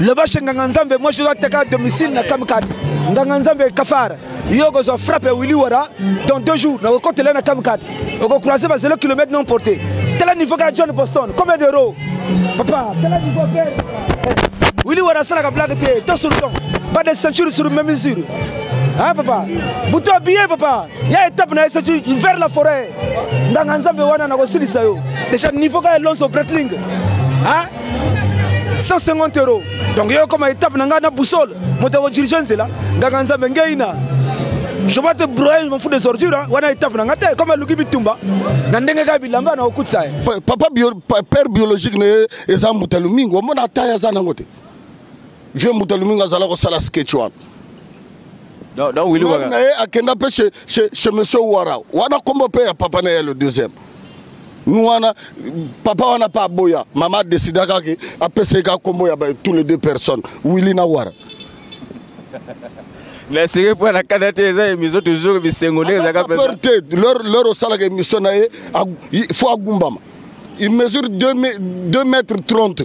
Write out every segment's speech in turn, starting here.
loba chez nganga nzambe moi je dois attaquer à domicile na kamkad nganga nzambe kafara yo okozwa frappe ya willi wara dans deux jours nakokotela na kamkad okocroise ba 0 kilomètre non porté tala niveau kaka john boston combien de ro papa tala niveau pe willi wara asalaka blague te to sur ton pas de ceinture sur même mesure Hein, papa butu abiye papa ya étape na ye soki vers la forêt nganga nzambe wana nakosilisa yo déjà niveau kaka elonso bretling 150 euro donc yo okoma étape na ngai na boussole moto akodirige nzela nganga nzambe ngei na je vais te broyer je m'en fous des ordures hein. wana étape na ngai te comme aluki bitumba na ndenge kaka bilamba na okutisa ye papa bio, père biologique na ye eza mbuta lomingo omona ata ye aza nango te vieux mbuta lomingo azala kosala sketch wana na ye akenda mpe chez monsieur wara wana kombo mpe ya papa na ye le deuxième wana papa wana mpe aboya mama adesida kaka apesa ye kaka nkombo ya tous les deux personnes willi na wara naseki mpo na kanda te eza émission toujours bisengo nde ezaka te lor osalaka émission na ye fo agumbama il mesure 2 mètre 30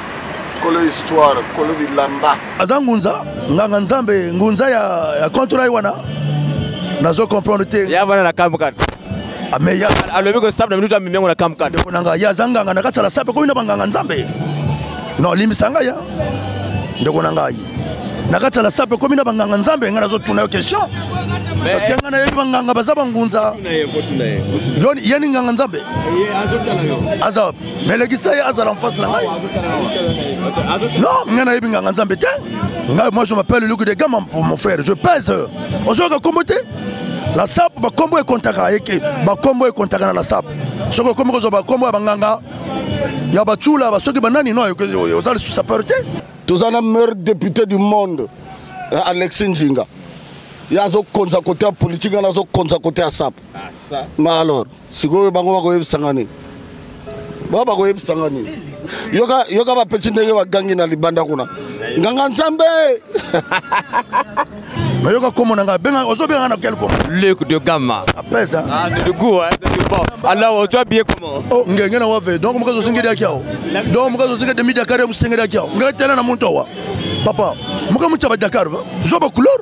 kolo histoire kolo bilamba aza ngunza nganga nzambe ngunza ya, ya contra wana nazo comprendre te ya bana na kamkan ameya ah, alobi ko sabna minuta mimengo na kamkan ndeko nanga ya zanganga na katala sape ko ina banganga nzambe no limbisa ngai ya ndeko na ngai na kati ya lasape ekomi na banganga nzambe ngai nazotuna yo question parceke ngai nayebi banganga baza bangunza yeni nganga nzambe aza mais lekisa ye azala en face na ngai non ngai nayebi nganga nzambe te ngai moi je m'appelle luki de gama mon frère je pèse ozoyoka kombo te la sap bakombo ekontaka eke bakombo ekontaka na la sap soki okomi kozwa bakombo ya banganga ya bacula basoki banani no oza lisusu sapeur te toza na meilleur député du monde eh, alexi njinga ye azokonza kote ya politike ngana azokonza kote ya sap ma alors sikoyo bango bakoyebisanga nini ba bakoyebisanga nini yoka, yoka bapeti ndenge bagangi na libanda kuna nganga nzambe nayoka komo na ngai benga ozobenga ngai na quel komo luc de gamma apesa ah c'est du goût hein c'est du bon alors ozo bien comment oh ngenge na wave donc mukazo singedi akiao donc mukazo singedi midi akare musingedi akiao ngai tena na muntu wa papa mukamu chaba dakar va zoba couleur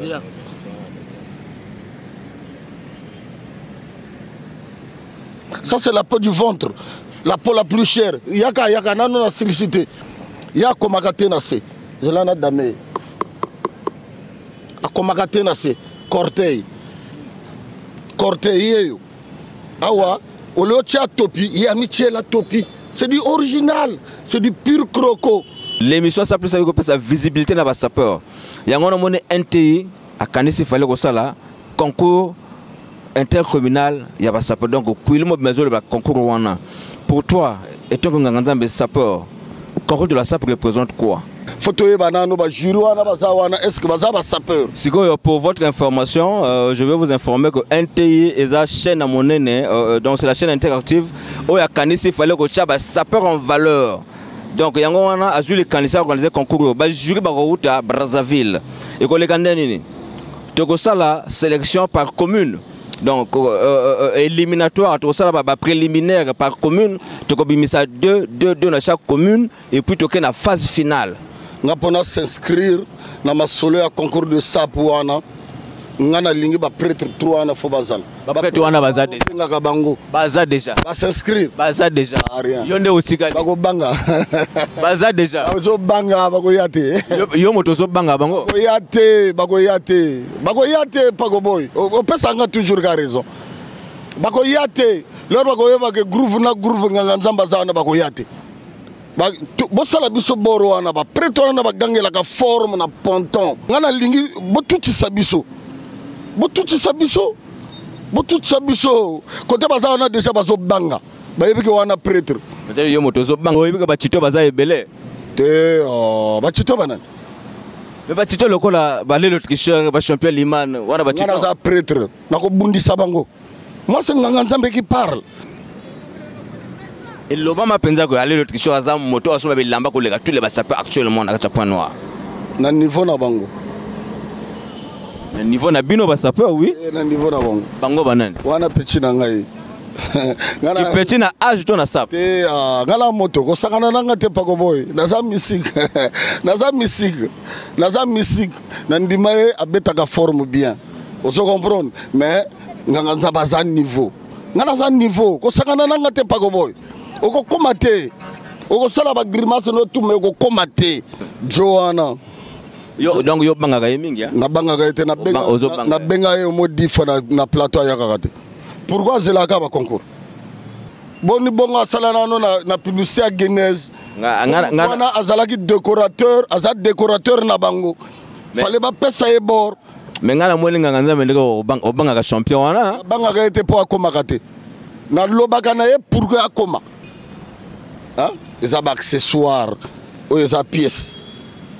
zela ça c'est la peau du ventre la peau la plus chère yaka yaka nano na silisi te ya akomaka te na se zela na dame akomaka te na se corteil corteil yeyo awa ole otya topi ye amityela topi c'est du original c'est du pure croco l'émission ça plus kopesa visibilité na basapeur yango wana omoni nti akanisi fale kosala concours intercommunal ya basapeur donc kuili mobimazoloba concours wana pour toi etongo nganga nzambe sapeur Corps de la SAP représente quoi faut toyeba nano bajury wana baza wana est ce que baza basapeur sikoyo pour votre information euh, je vais vous informer que nti eza chaîne ya monene euh, euh, donc c'est la chaîne interactive oyo akanisi fallait kotya basapeur en valeur donc yango wana azwi likanisi ya organise concours oyo bajury bakouta brazzaville ekoleka nde nini tokosala sélection par commune donc euh, euh, euh, éliminatoire tokosala bapréliminaire par commune tokobimisa 2 2 2 na chaque commune et puis tokei na phase finale nga mpo na s'inscrire na masolo ya concours de sap wana nga nalingi baprêtre 3 wana fo bazala baprêtre wana baza engaka bango baza déjà bas'inscrire baza déjà ah, yo nde otikali bakobanga baza déjà ozobanga bakoya te yo moto ozobanga bango bakoya te bakoya te bakoya te pakoboy opesanga toujours ka raison bakoya te lor bakoyeba ke groove na groove nganga nzambe aza wana bakoya te bosala biso boro wana baprete wana na bagangelaka forme na ponton ngai nalingi botutisa biso botutisa biso botutisa biso kote baza wana deja bazobanga bayebi ke wana pretre peut-être yo moto ozobanga oyebi ke bacito baza ebele te oh, bacito banani me bacito lokola balelo tricheur bachampion liman wana bacito naza pretre nakobundisa bango mwasi nganga nzambe ki parle elobama mpenza koya lelo tricheur aza moto asomba bilamba koleka tous les basape actuellement na kati ya point noir na niveau na bango na niveau na bino basape oui eh, na niveau na bango bango banani wana petit na ngai kipeti na age to na sap te ah, nga na moto kosangana nanga te pako boye naza misike naza misike naza misike na ndima ye abetaka forme bien ozo comprendre mais nganga nzambe aza niveau nga naza niveau kosangana nanga te pako boye okokoma te okosala bagrimase notuma okokoma te jo wana yo donc yo obangaka ye mingi nabangaka ye te nabenga ye omo difa na plateau ayakaka te pourquoi azelaka ba concours boni bongo asala nano na, na publicité ya genèse wana azalaki décorateur aza décorateur na bango fale bapesa ye bord me ngai namoni nganga nzambe ndenge obangaka champion wana abangaka ye te mpo akomaka te nalobaka na ye pourkui akoma eza baaccessoire oyo eza pièce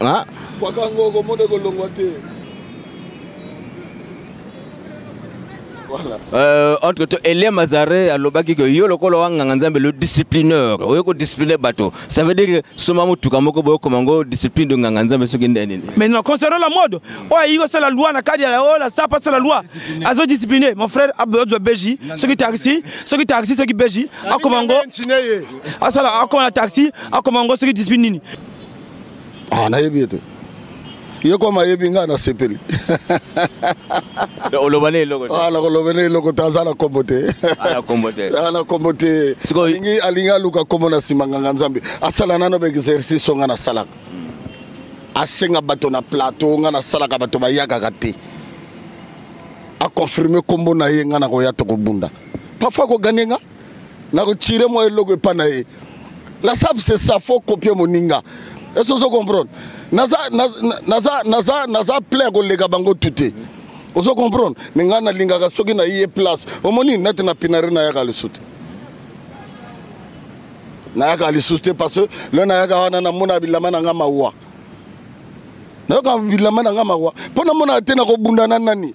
Ah. Kwaka ngo okomona ekolongwa te. Voilà. Euh, entre temps, Elie Mazare alobaki que yo lokola wanganga nzambe le disciplineur oyo ko discipliner bato ça veut dire soma motuka moko boyo koma ngo discipline de nganga nzambe soki nde nini mais non concernant la mode oyo ayi kosala loi na kadi ya oyo la sapa asala loi azo discipline mon frère abdozwa beji soki taxi soki taxi soki beji akoma ngo asala akoma na taxi akoma ngo soki discipline nini ah nayebi ye te ye koma ayebi ngai nasepeli oloba ne eloko ah, nakoloba ne eloko te aza na kombo te na kombo te ah, alingi aluka kombo na nsima nganga nzambe asala nano baexercice oyo ngai nasalaka asenga bato na plateau ngai nasalaka bato bayakaka te aconfirme kombo na ye ngai nakoya tokobunda parfois akoganye nga na kotire mwa eloko epa na ye la sab se sa fo kopie moninga esi ozo comprendre naza, naza, naza, naza plein koleka bango tu te ozo comprendre me ngai nalingaka soki na ye place omoni nati na pinare nayaka lisusu te nayaka lisusu te parce que le nayaka wana namona bilama na ngai mawa nayoka bilama na ngai mawa mpo namona te nakobunda na nani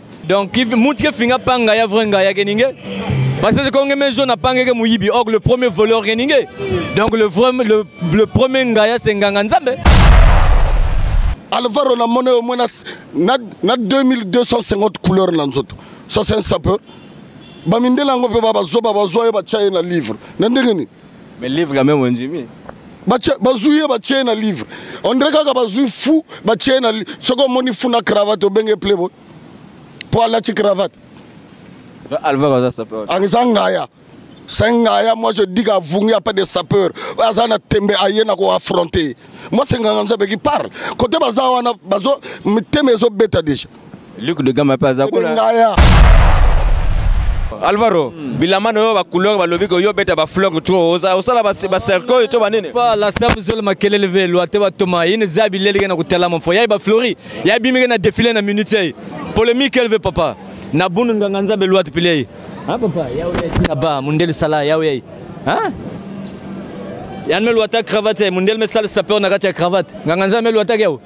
donc mutu ke finga pa ngaya vrai ngaya ke ninge parce que konge me jaune apange ke muyibi or le premier voleur ke ninge donc le vrai le, le premier ngaya c'est nganga nzambe alvaro na mona yo mona na, na 2250 couleur na nzoto ça c'est un sapeur bamindela yango mpe babazoba bazwa ye batya ye na livre na ndenge nini mais livre quand même ondimi bazwi ye batye na livre ondire kaka bazwi fu batye na soki omoni fu na cravate obenge plebo mpo alati cravate eza ngaya c'est ngaya moi je dis qu'avungi a pas de sapeur aza na tembe aye na koaffronte moi c'est nganga nzambe qui parle kote baza wana bazo mitema ezobeta déjà Luc de Gama pe aza kuna. Ngaya. Alvaro, hmm. bilamba na yo ba couleur balobi ko yo beta ba fleur trop. Oza osala ba ba cercueil to ba nini? Ba la sabu zol makelele ve lwa te ba toma. Yini zabi lelege na kutala mo fo. Ya ba flori. Ya bimige na défilé na minute. Polemique elle veut papa. Na bunu nganga nzambe lwa te pile. Ah papa, yao yai tina ba mundele sala yao yai. Hein? Yann melu ata cravate yai mundele me sala sapeur na kati ya cravate. Nganga nzambe melu ata yao.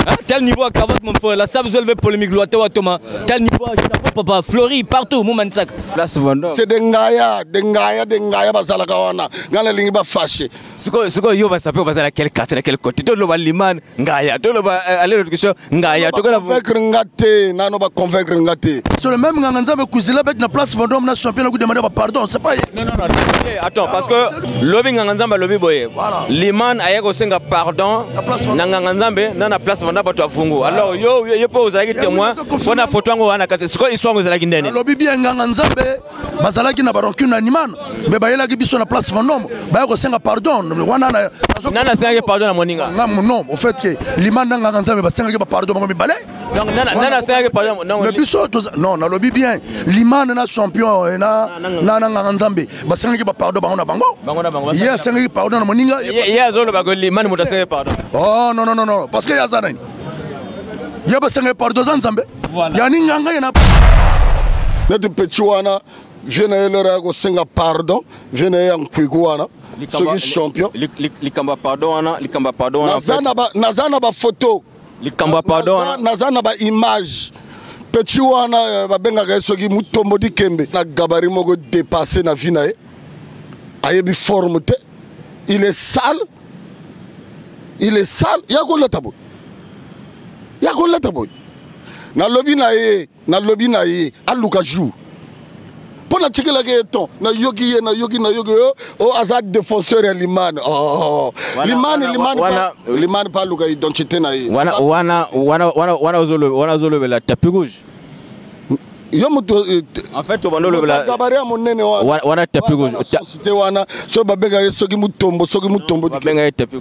Hein? Tel niveau à cravate mon frère, la sable zolve polémique loite wa Thomas. Tel niveau à chapeau papa, Flori partout mou manisak. Place Vendôme. C'est des ngaya, des ngaya, des ngaya bazalaka wana. Ngana lingi ba fâché. sikoyo sikoyo yo basape baza na quel quartier na quel côté toloba liman ngaya toloba euh, aller location ngaya tokona convaincre nga te nano ba convaincre nga te sur le même nganga nzambe kuzila bet na place vendom na champion na kudemande ba pardon c'est pas non non non attends parce que lobi nganga nzambe lobi boye liman aye ko senga pardon na nganga nzambe na na place vendom bato afungu alors yo yo po ozalaki témoin pona photo yango wana kati sikoyo histoire yango ezalaki ndene lobi bien nganga nzambe bazalaki na barancune na nimano me bayelaki biso na place fondombo baya kosenga pardon wana nani asengaki pardon na moninga nga non au fait ke limano na nganga nzambe basengaki bapardon bango mibale me biso non nalobi bien limano na champion eh, na nganga nzambe basengaki bapardon bango na bango ye asengaki pardon na moninga ye azoloba limano moto asengaki pardon oh non non non parce que ye aza nani ya basenga ye pardon aza nzambe ya ninganga ye na neti peti wana vie na ye lero ya kosenga pardon vie na ye ya nkwiku wana soki champion likambo ya pardon wana likambo ya pardon wana naza na bafoto likambo ya pardon wana naza na baimage peti wana eh, babengaka ye soki mutombo dikembe na gabari moko depasse na vie na ye ayebi forme te il est sale il est sale ya kolata boye ya kolata boye nalobi na ye nalobi na ye aluka jour mpo natikelaki ye ton nayoki ye nayoki nayoki yo o oh, aza défenseur ya limane oh, limane limane mpe aluka identité na ye wana ozolobela tapi rouge yo moto eh, en fait obanda olobela gabari ya monene wana wana tapi te wana soki babenga ye soki mutombo soki mutombo babenga ye tapi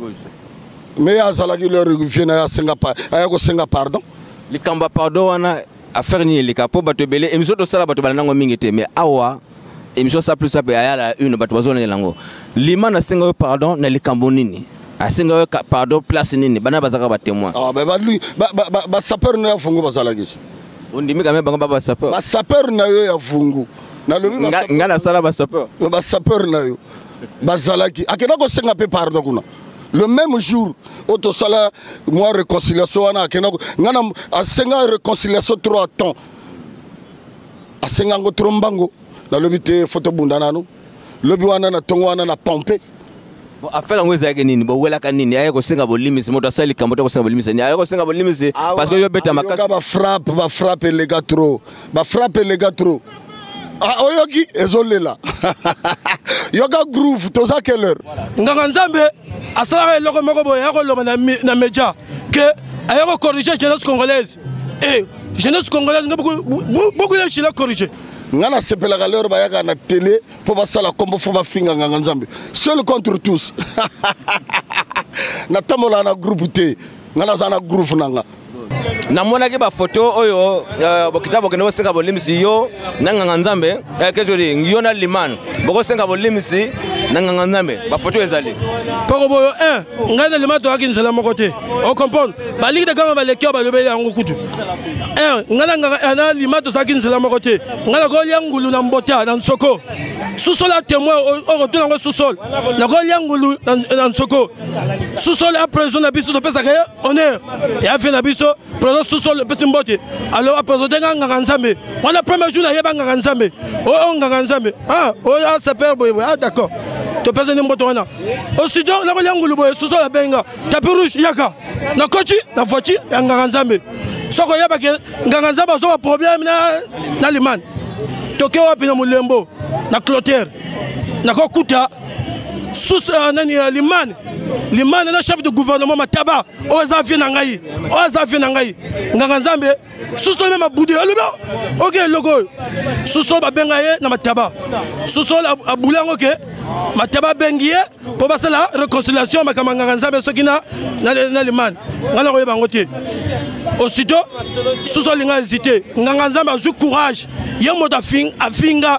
mais azalaki leur vie na ye asenga aya kosenga pardon likambo ya pardon wana affaire nini eleka mpo bato ebele emission tosala bato balandango mingi te mais awa ah, emission sa plus sape aya la une bato bazolengela yango lima nasenga yo pardon na likambo nini asenga yo pardon place nini bana bazalaka batémoin basapeur na yo ya fungu bazalaki ondimi kame bango ba basapeur basapeur na yo ya fungu nalobi ngai nasala basapeur basapeur na yo bazalaki akenda kosenga mpe pardon kuna le même jour oyo tosala mwa réconciliation wana akenda ngai asenga réconciliation trois temps asenga yango tro mbango nalobi te fo tobunda nanu lobi wana na ntongo wana na pompe afela yango ezalaki nini bowelaka nini aye kosenga bolimisi moto asali likambo te kosenga bolimisi nini aye kosenga bolimisi ah, parce que yo beta makasi bafrappe bafrappe elega trop bafrappe elega trop ah, oyoki ezolela yoka groove toza quelle heure nganga nzambe asalaka eloko moko boye ya koloba na media que aye ko corriger jeunesse congolaise eh jeunesse congolaise nga beaucoup beaucoup ya chila corriger nga nasepelaka lero bayaka na tele mpo basala nkombo fo bafinga nganga nzambe seul contre tous natambolaka na groupe te nga naza na groupe na nga namonaki bafoto oyo euh, bokita bokende koseka bolimbisi yo na nganga nzambe eh, kejoli yo na liman bokosenga bolimisi na nganga nzambe bafoto ezali poko boyo eh, ngai na liman toyaki nzela moko te ocomprendre baliki de kama baleki oyo balobeli yango kutu eh, ngai na nganga eh, na liman tozalaki nzela moko te ngai nakolia ngulu na mbota na nsoko susol a témoin okotuna yango susol nakolia ngulu na nsoko susol a président na biso topesaka ye honneur ya vie na biso president sosol epesi mbote alo apresente nga nganga nzambe wana premier jour nayeba nganga nzambe oyo oh, oh, nganga nzambe ah, oyo oh, asaper boyeboye ah d'accord topesani mboto wana osido nakolia ngulu boye sosol abengi nga tapi rouge yaka nakoti na voiture ya nganga nzambe soki oyebaki nganga nzambe azoba problème na limane toke wapi na molembo na clotere nakokuta sous euh, nani euh, limane limane na chef de gouvernement mataba oyo aza vie na ngai oyo aza vie na ngai nganga nzambe suso meme abude alobi oke eloko oyo suso babenga ye na mataba suso abule yango ke mataba abengi ye mpo basala réconciliation makambo ya nganga nzambe soki na limane ngai nakoyeba yango te aussitôt susu alinga hésité nganga nzambe azwi courage ye moto afinga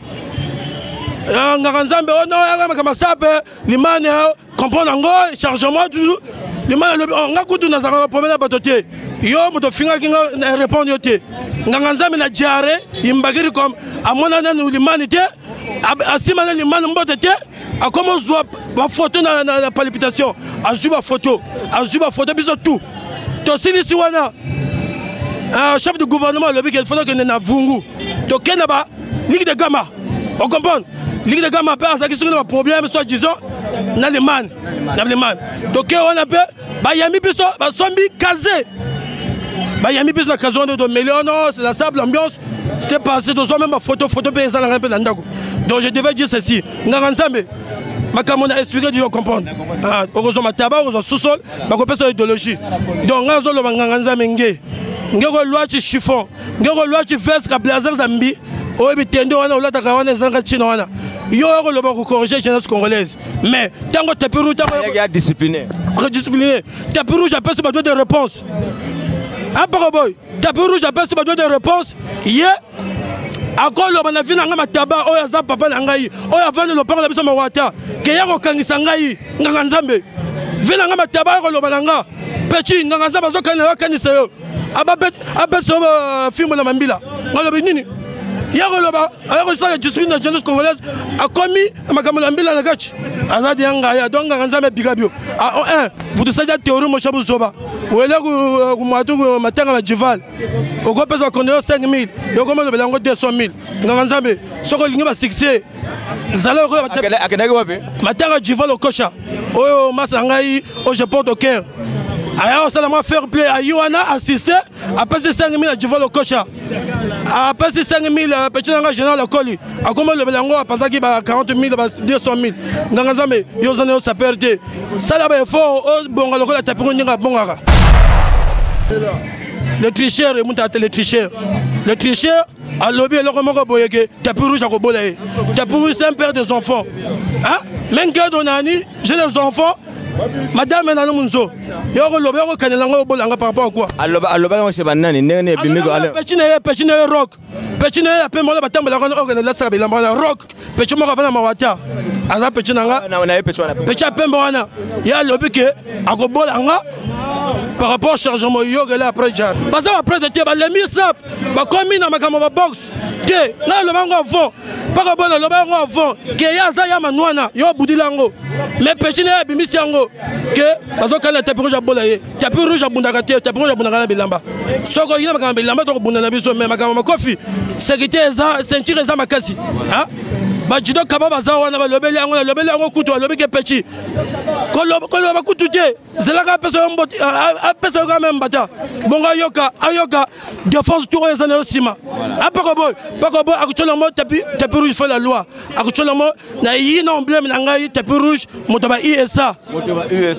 eh, ngaka nzambe oyo noyaka masape limane eh, comprendre yango chargement toujours limane alobi oh, nga kutu nazalaka problème na bato te yo moto ofingaki nga eh, répondre yo te nganga nzambe na diare imbakiri comme amona nanu limani te asima na limani mbote te akomi ozwa bafoto na, na, na palpitation azwi bafoto azwi bafoto biso tout tosilisi wana uh, chef du gouvernement alobi ke fona kende na vungu tokenda ba liki de gama o comprendre liki de gama mpe azalaki soki na baproblème soit disant na allemagne na allemagne toke wana mpe bayambi biso basombi kaze bayambi biso na kaze wana tomeli ono oh c'est la sable ambiance c'était passé tozwa meme bafoto foto mpe eza na ngai mpe na ndako donc je devais dire ceci nganga nzambe makambo na explike diyo comprendre ah, okozwa mataba okozwa sosol bakopesa idéologie donc ngai azoloba nganga nzambe nge nge kolwaci chiffon ndeko lwachi veste ka blazer zambi oyo bitende wana olataka wana ezalaka ntina wana yo oyo koloba kocorrige jeunesse congolaise mais ntango tapi rouge discipliner tapi rouge apesi badoi de réponse apoko boy tapi rouge apesi badoi de réponse ye akoloba na vi na ngai mataba oyo aza papa na ngai oyo avandi lopango na biso mawata keya kokangisa ngai nganga nzambe vi na ngai mataba oyo koloba na nga peci nganga nzambe azokanisa yo akanisa yo abetisa yo bafimbo na mambila alobi nini ya koloba aya kosala discipline na jeunesse congolaise akomi makambo na mbila na kati aza dia ngai ado nganga nzambe abika bio a o 1 vutusadi ya teori mosha buzoba oyele kumwatu matanga na jival okopesa konde yo 5000 yokoma olobela yango 200000 nganga nzambe soki olingi basuccès zala okoya akendaki wapi matanga jiva lokosha oyo masa na ngai oyo je porte au cœur aya kosala mwa fair play ayi wana assiste apesi 5000 ya jiva lokosha apesi 5000 peti na ngai général akoli akomi olobela yango apanzaki ba 40000 ba 200000 nganga nzambe yo oza na yo saper te sala ba effort obonga lokola tapingo ndenge abongaka le tricheur emuta te le tricheur le tricheur alobi eloko moko boye ke tapi rouge akobola ye tapi rouge c'est un père des enfants hein? mengedo nani j'ai des enfants madame nano munzo yoko loba yoko kanela ngo bolanga par rapport à quoi aloba aloba ngo sheba nani ndenge ne bimi ko ale pechine ye pechine ye rock pechine ye pe mola batambala ko okene la sabe la rock pecho moko avanda mawata aza pecho na nga pecho ya pembe wana ye alobi ke akobola nga par rapport chargement yogele après jar baza baprete te balemi sap bakomi na makambo baboxe te ngai loba yango avant mpaka bona loba yango avant ke ye aza ya manwana yo obudila yango mais pechi na ye abimisi yango ke bazokalela tapi rouge abola ye tapi rouge abundaka te tapi rouge abundaka na bilamba soki oyina makambo bilamba tokobunda na biso me makambo makofi sekite eza ceinture eza makasi bajudo kaba baza wana balobeli yango nalobeli yango kutu alobi ke peci koloba kutu te zelaka apesa yo mboti apesa yo ka meme mbata bongo ayoka ayoka defense tour oyo eza na yo nsima apako boy pako boy akotyola yango tapi rouge fo la loi akotyola yango na yi na emblème na ngai tapi rouge moto ba usa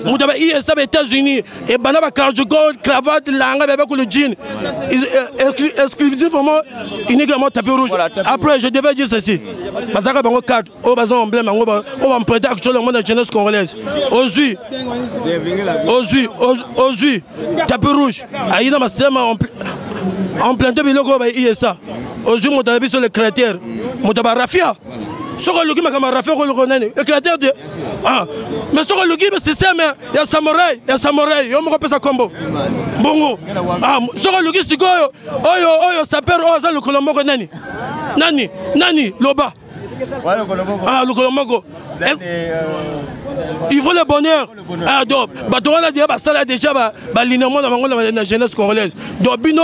moto ba usa ba états-unis ebanda ba cargogol cravate langa bebe kolo jean euh, exclusivement uniquement tapi rouge après je devais dire ceci bazalaka bango carte oyo baza emblème yango oyo bamprete akotyola yango na jeunesse congolaise ozwi ozwi ozwi tapi rouge ayi na masema emplante biloko oyo ba usa ozwi moto na biso le créateur moto ya barafia soki oluki makambo ya rafia okoluka nani le créateur de ah. mais soki oluki système ya samorai ya samorai yo moko opesa nkombo mbongo ah, soki oluki sikoyo oyo oyo saper oyo aza lokolo moko nani nani nani loba ah, lokolo moko eh, euh, il faut le bonheur ah, donc bato wana deya basala déjà balinement na bango na jeunesse congolaise donc bino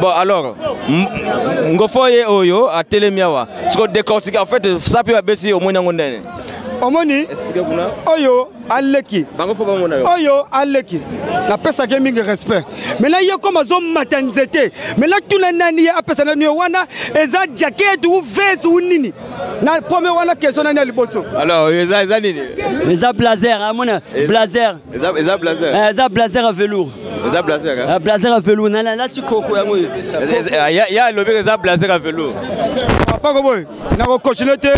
bon alors ngofo ye oyo atelemi awa siko décortique en fait sapi babesi omoni yango ndene omoni oyo aleki oyo aleki napesaki ye mingi respect mena ye koma azomata nzete mena tuna nani ye apesa nani yo wana eza jaket u ves u nini na pome wana keso nani ya liboso alors eza nini eza blazer amona eh, blazer eza eza blazer eh, eza blazer à velours eza blazer hein? ah, blazer à velours na la lati koko yango ah, ya ya lobi eza blazer à velours papa ko boy na ko continuer te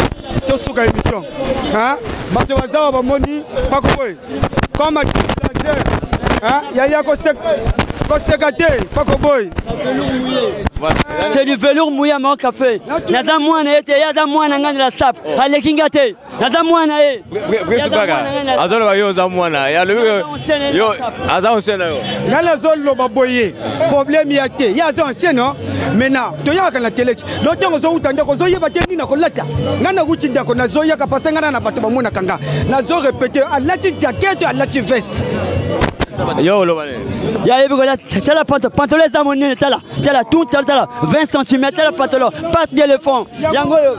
to suka émission hein bato bazawa bamoni pako boy comme blazer hein ya ya ko sek ko seka te pako boy c'est du velours mouillé mon café naza mwana ete ye aza mwana ngai na la sape oh. aleki ngai te naza mwana ye presipaka azoloba yo oza mwana ye alobi yo aza ancien na yo nga nazoloba boye probleme ya te ye aza ancien no mena toyaka na teleche no ntango ozowuta ndako ozoyeba te nini nakolata nga nawuti ndako nazoyaka pase nga na na bato bamonaka nga nazo repete alati jakete alati veste yo oloba nini ya yebi kola tala panto pantolo eza monene tala tala tout tala tala 20 cm tala pantolo pate de lefond yango oyo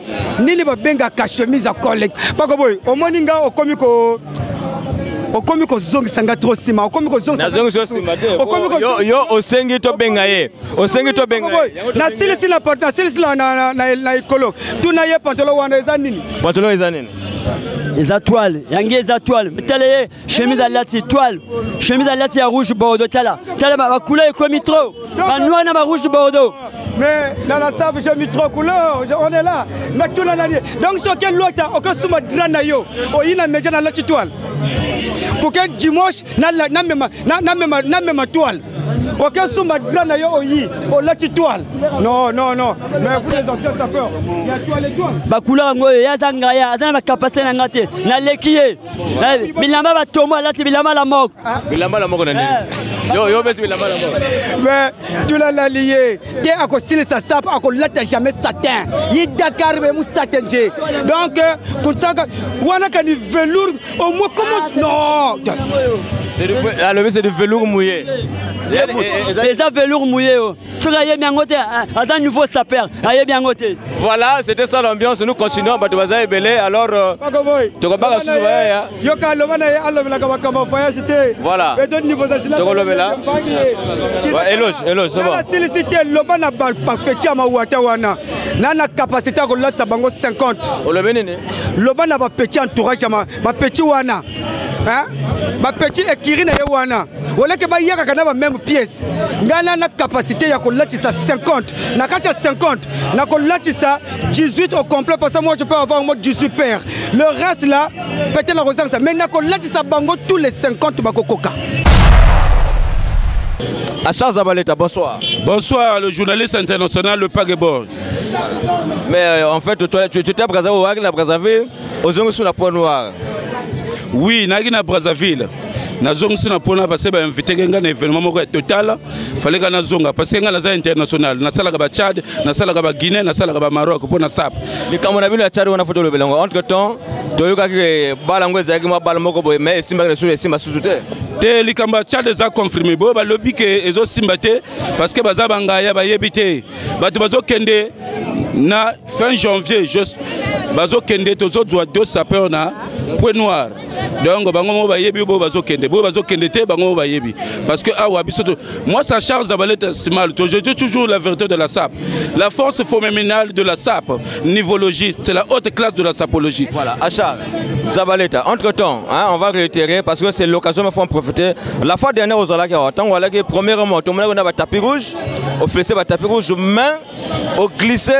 nini babengaka chemise ya cole pako boye omoni nga okomi ko okomi kozongisa nga trop nsima okomi kozongisaokomiyo osengi tobenga ye osengi tobenga nasilisi nasilisi na ekolo tuna ye pantolo wana eza nini pantolo eza nini eza toile yangi eza toile mitala ye chemise alati toile chemise alati ya rouge bordeaux tala tala bacouleur ekomi trop banoir na barouge bordeaux mais dans la save j'ai mis trois couleurs on est là natuna nani donc soki elota okosuma dra na yo oyina media nalati toile koke dimanche namema toile okesumba dra na yo oyi olati toile non non non mais vous les anciens sapeurs bacouleur yango oyo ye aza ngai aza na bacapacité na ngai te naleki ye Eh, bilamba batombo alati bilamba la moko ah. bilamba la moko na nini eh. yo yo besi bilamba la moko mais tolalali ye te akosilisa sapo akolata jamais satin ye dakar be musate nje donc euh, kosaka wana kani velour au moins comment ah, non alobi c'est du velour mouillé eza velour mouillé o oh. soki ayebi yango te aza nouveau saper ayebi yango te voilà c'était ça l'ambiance nous continuons bato baza ebele alors euh, tokobaka susu bayaya yoka aloba na ye alobelaka makambo voyage te voilà tokolobela eloge eloge sobasilisi te loba na bapeti ya mawata wana na na capacité ya kolatisa bango 50 olobi nini loba na bapeti entourage ya bapeti wana bapeti ekiri na ye wana oleke bayakaka na bameme pièce ngai na na capacité ya kolatisa 50 na kati ya 50 na kolatisa 18 au complet parce que moi je peux avoir au moins 18 paire le reste là peut-être na kozangisa mais na kolatisa bango tous les 50 bakokoka Achaz Zabaleta, bonsoir. Bonsoir, le journaliste international, le Pagebor. Mais euh, en fait, tu, tu, tu étais à Brazzaville, au Hague, à Brazzaville. ozongisi na point noir oui nayaki na brazzaville nazongisi na mpona parce bainviteke ngai na événement moko ya total faleka nazonga parce ngai naza international nasalaka bachad nasalaka baguinée nasalaka bamaroc mpo na sap likambo na bino ya chad wana fo tolobela yango entre temps toyokaki bala yango ezalaki mwa bala moko boye mai esimbaki na susu esimba susu te te likambo ya chad eza confirme boye balobi ke ezosimba te parce que baza bangaya bayebi te bato bazokende na fin janvier juste bazokende tozozwa deux sapeur na point noir donc bango moko bayebi boyo bazokende boyo bazokende te bango moko bayebi parce que awa ah biso moi ça charge zabaleta simal je dis toujours la vérité de la sap la force phénoménale de la sap nivologie c'est la haute classe de la sapologie voilà achat zabaleta entre temps hein, on va réitérer parce que c'est l'occasion il faut en profiter la fois dernière ozalaki awa ntango alaki premièrement tomonaki na batapi rouge officier batapi rouge mais oglise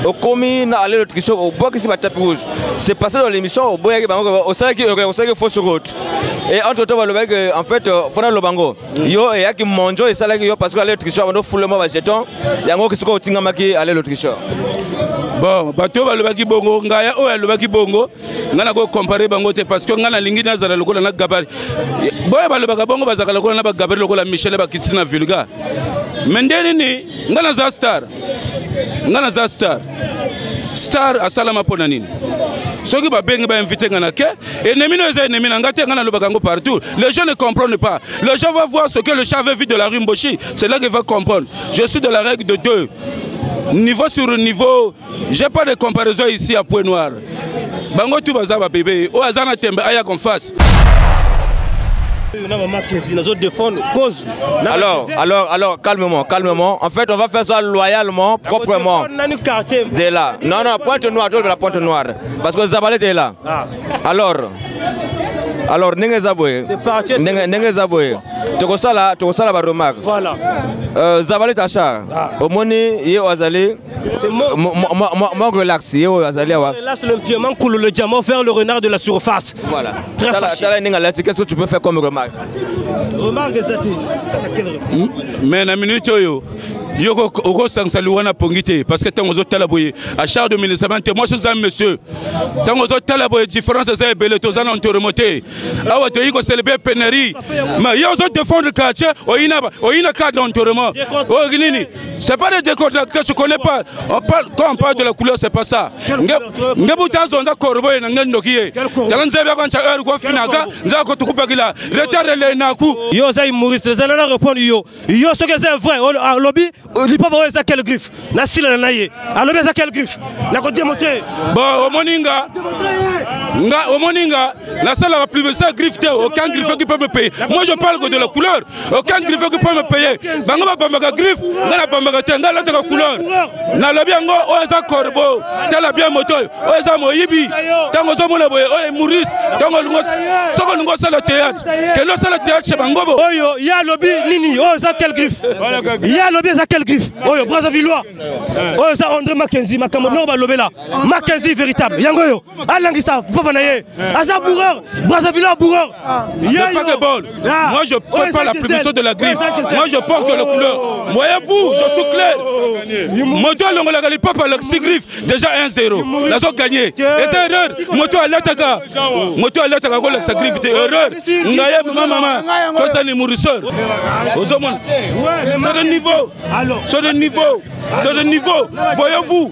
okomi na ale lotrition obwakisi batape rouge c'est passé dans l'émission oboyaki bango osalaki osalaki fausse route et entre temps balobaki que en fait euh, fona loba ngo yo eyaki monjo esalaki yo parce que ale lotrition abando fule mwa bajeton yango okisiko otingamaki ale lotrition bon bato oyo balobaki bongo ngaya oyo alobaki bongo ngai nakokompare bango te parce que ngai nalingi nazala lokola na gabari boye balobaka bongo bazalaka lokola na bagabari lokola michel bakiti na vulga me nde nini nga naza star nga naza star star asalama mpo na nini soki babengi bainvite nga na ke ennemi no eza ennemi na nga te nga nalobaka yango partout les gens ne comprennent pas les gens va voir ce que le chat veut vivre de la rue mboshi c'est là qu'il va comprendre je suis de la règle de deux niveau sur niveau j'ai pas de comparaison ici à point noir bango tu baza babebe oyo aza na tembe aya confase Alors, alors, alors, calmement, calmement. En fait, on va faire ça loyalement, proprement. C'est là. Non, non, pointe noire, tu la pointe noire. Parce que Zabalé est là. Ah. Alors, alors, ndenge eza boye ndenge eza boye tokosala tokosala baremarque euh, zabalet achar ah. omoni ye oyo azali C'est moi. Moi, moi, moi, moi, relax. Yo, oh, azali awa. Relax le pied, man coule le diamant vers le renard de la surface. Voilà. Très tala, fâché. Tala ninga lati, qu'est-ce que tu peux faire comme remarque Remarque ezati. Mais na minute oyo yo okosangisa liwa na pongi te parce que ntango ozotala boye a charge de ministrement te mwasi oza monsieur ntango ozotala boye différence eza ebele toza na entourement te awa toyei koselebre penerie ma ye ozodefendre quartier oyina cadre entourement oyo nini C'est pas des décontractés, je connais pas. On parle, quand on parle de la couleur, c'est pas ça. Ngebu tazo nda korbo na ngendo kiye. Tala nzebe ko ncha heure ko finaka, nza ko tukupa kila. Retard le na ku. Yo za humoriste, za na répondre yo. Yo ce que c'est vrai, ah, lobby, euh, li papa za quel griffe. Na sila na ye. Alobi ah, za quel griffe. Na ko démontrer. Bon, omoninga. Nga omoninga. La salle va plus ça griffe aucun griffe qui peut me payer. Moi je parle que de la couleur, aucun griffe qui peut me payer. Bango ba pambaka griffe, nga la pambaka te, nga la taka couleur. Na lobi yango o oh, eza corbeau, tala bien moto, o oh, eza moyibi. Tango zo mona boye, o oh, Maurice, tango lungo soko lungo sala théâtre. Que no sala théâtre chez bango bo. Oyo ya lobi nini? O eza quel griffe? Ya lobi eza quel griffe? Oyo Brazzavillois. O eza André Mackenzie, makambo no ba lobela. Mackenzie véritable. Yango yo. alangisa papa na ye aza bourreur brazzaville a bourreur ah. pas de bol ah. moi je fais pas la publicité de la griffe moi je porte la couleur voyez-vous je suis clair oh. moto alongolaka lipapa alakisi griffe déjà 1 0 nazo gagné eza erreur moto alataka moto alataka kolakisa griffe te erreur ngaye mama mama tosani mourisseur ozomona c'est de niveau c'est de niveau c'est de niveau voyez-vous